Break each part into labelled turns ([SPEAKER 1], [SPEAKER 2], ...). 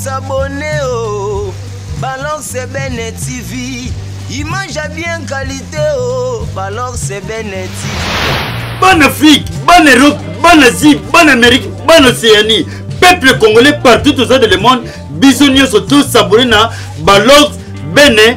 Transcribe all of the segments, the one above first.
[SPEAKER 1] abonner oh. Balor Sebene TV. Image à bien qualité oh. Balor Sebene TV. Bonne
[SPEAKER 2] Afrique, bonne Europe, bonne Asie, bonne Amérique, bonne Océanie. Peuple congolais partout aux de le monde. Bisous tous abonnés na Balor Bene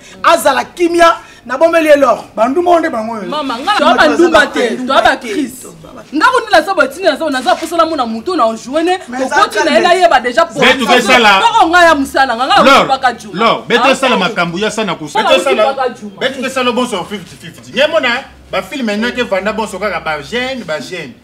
[SPEAKER 3] azala kimia na bomeli elor banduma nde bango mama nga na banduma
[SPEAKER 4] te toa ba crise nga ko nila sabo tini na sabo naza posa na mona muto na joine kokoti na ye nayeba deja poko
[SPEAKER 5] nga ya mosala nga
[SPEAKER 4] nga nakopaka juma lor beto ah, esala makambo
[SPEAKER 5] ya sana kusa beto esala bonso 50 50 nye mona bafilme nake vanda bonso kaka bagene bagene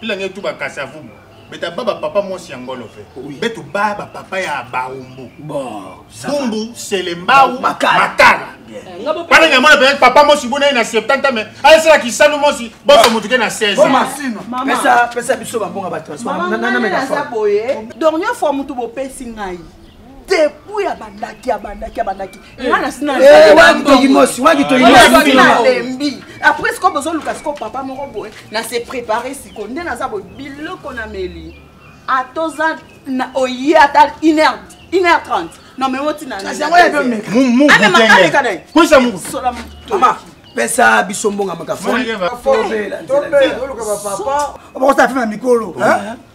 [SPEAKER 5] pila nge tu bakasa vubu beta baba papa mwasi ya ngolo fe betu baba papa ya baumbu bumbu selembau makala wana eh, nyamona pe papa mwasi bona ye na 70 me ayesala kisanu mwasi boso motuke na 16pesa
[SPEAKER 1] biso bambonga bato
[SPEAKER 4] dornio fois motu bopesi ngai depuis abandaki abandaki abandaki eh. nga nasi natoyimosi waki toyimosi nalembi après sikoyo bozoluka sikoyo papa moko boye na se prépare sikoyo nde naza boye biloko nameli atoza oye ata une heure une heure trente
[SPEAKER 1] nomemo tinapesa biso mbonga makafoobela
[SPEAKER 3] mikolo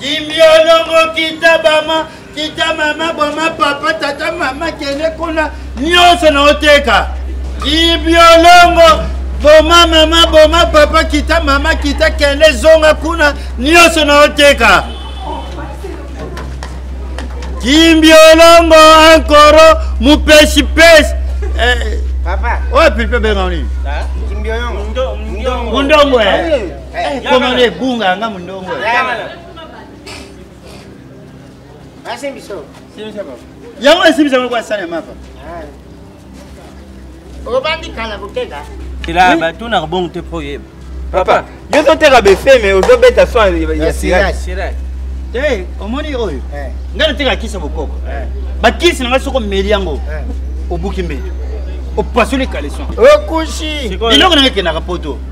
[SPEAKER 2] kimbiolongo kita bama kita mama bwama papa tata mama kende kuna nyonso na oteka kimbiolongo boma mama boma papa kita mama kita kende zonga kuna nyonso na oteka kimbiolongo ankoro mupeshipesi eh,
[SPEAKER 6] wapi mpe
[SPEAKER 2] benga nini mundongo eh. Eh, koma nde ebunga yanga mondongo yango esimbisa ngo kwasana ya mapa
[SPEAKER 6] obandi kala koteka ela batunaka
[SPEAKER 7] bongo te mpo oyeba papa yo
[SPEAKER 8] ozoteka befe me ozobeta so ya sirage te
[SPEAKER 7] omoni
[SPEAKER 2] oyo eh. ngai nateka kisi ya bokoko eh. bakisi na ngai soko omeli yango eh. obuki mbeli opasoli kaleson okushi
[SPEAKER 8] eloko nanga ekendaka
[SPEAKER 2] poto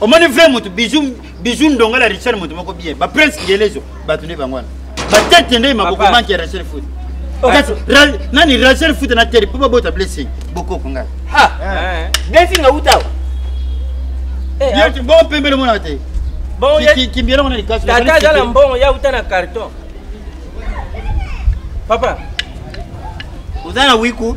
[SPEAKER 2] omoni vrai motu bijou bijou ndonga la richard motu moko bien ba prince ngelezo bato nde bango wana batete nde maboko manki ya rachel foot oh. kasi nani rachel foot na tere mpo babota blessing bokoko ngai eh.
[SPEAKER 8] blessing awutawa eh,
[SPEAKER 2] ah. bo mpembele mona te
[SPEAKER 7] kimbiela mona
[SPEAKER 2] likasitata aza na mbongo ya
[SPEAKER 7] uta na carton papa
[SPEAKER 2] oza na wiku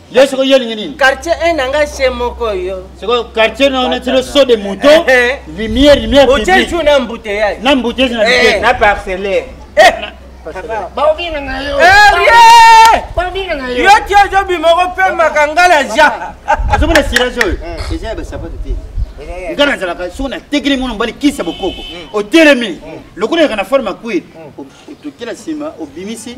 [SPEAKER 7] yo sikoyo yo olingi
[SPEAKER 2] nini quartier un na ngai se
[SPEAKER 7] moko yo sikoyo quartier na ona
[SPEAKER 2] tino so de mouton eh, eh. lumière lumière otie jour na
[SPEAKER 7] embouteillage na embouteillage na eh.
[SPEAKER 2] na parcellaire
[SPEAKER 6] baobingana yo yo ti ozobima
[SPEAKER 7] okopemaka nga na ja ozomona silage
[SPEAKER 2] oyo eza ya basapato te nga nazalaka soki natekeli mwana mobali kisi ya bokoko otelemi lokola yaka na forme ya kwiri otokela nsima obimisi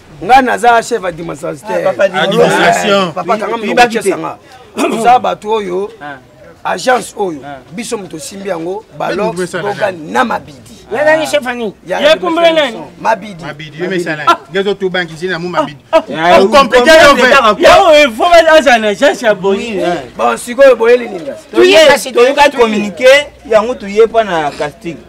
[SPEAKER 1] ngai naza chef administrateurpapakangamiokesanga toza bato oyo ah. agence oyo ah. biso moto osimbi yango balosbogan na mabidi nazali chef ani
[SPEAKER 8] yakumbula
[SPEAKER 5] nani mabidi azala
[SPEAKER 7] na agence ya boni bon sikoyo
[SPEAKER 1] boyeli ninga toyekasi toyekaki
[SPEAKER 8] communiqué yango toye mpo na casting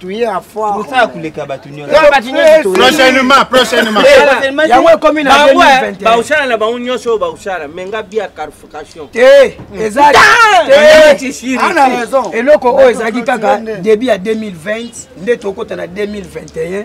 [SPEAKER 6] tuye
[SPEAKER 1] ya foire
[SPEAKER 6] kosala koleka bato
[SPEAKER 8] nyonsoprochainement
[SPEAKER 5] prochainement yango ekomi
[SPEAKER 1] na baosala na bango
[SPEAKER 7] nyonso oyo baosala me nga bia carification te ezana
[SPEAKER 1] raison
[SPEAKER 8] eloko
[SPEAKER 1] oyo ezalaki kaka début ya 2020 nde tokota na 2021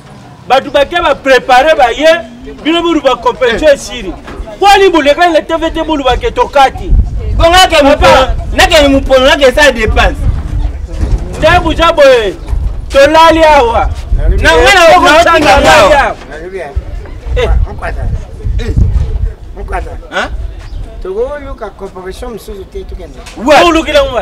[SPEAKER 7] bato bake baprepare baye bino boluba competition eh. esili mpo alibolekani na tv te boluba ke tokati
[SPEAKER 8] nakende mopono nakesala dépense te
[SPEAKER 7] buja boye tolali awa na ngai naokotangaa
[SPEAKER 8] tokoluka corporation mosusu te
[SPEAKER 9] tokende olukila ngo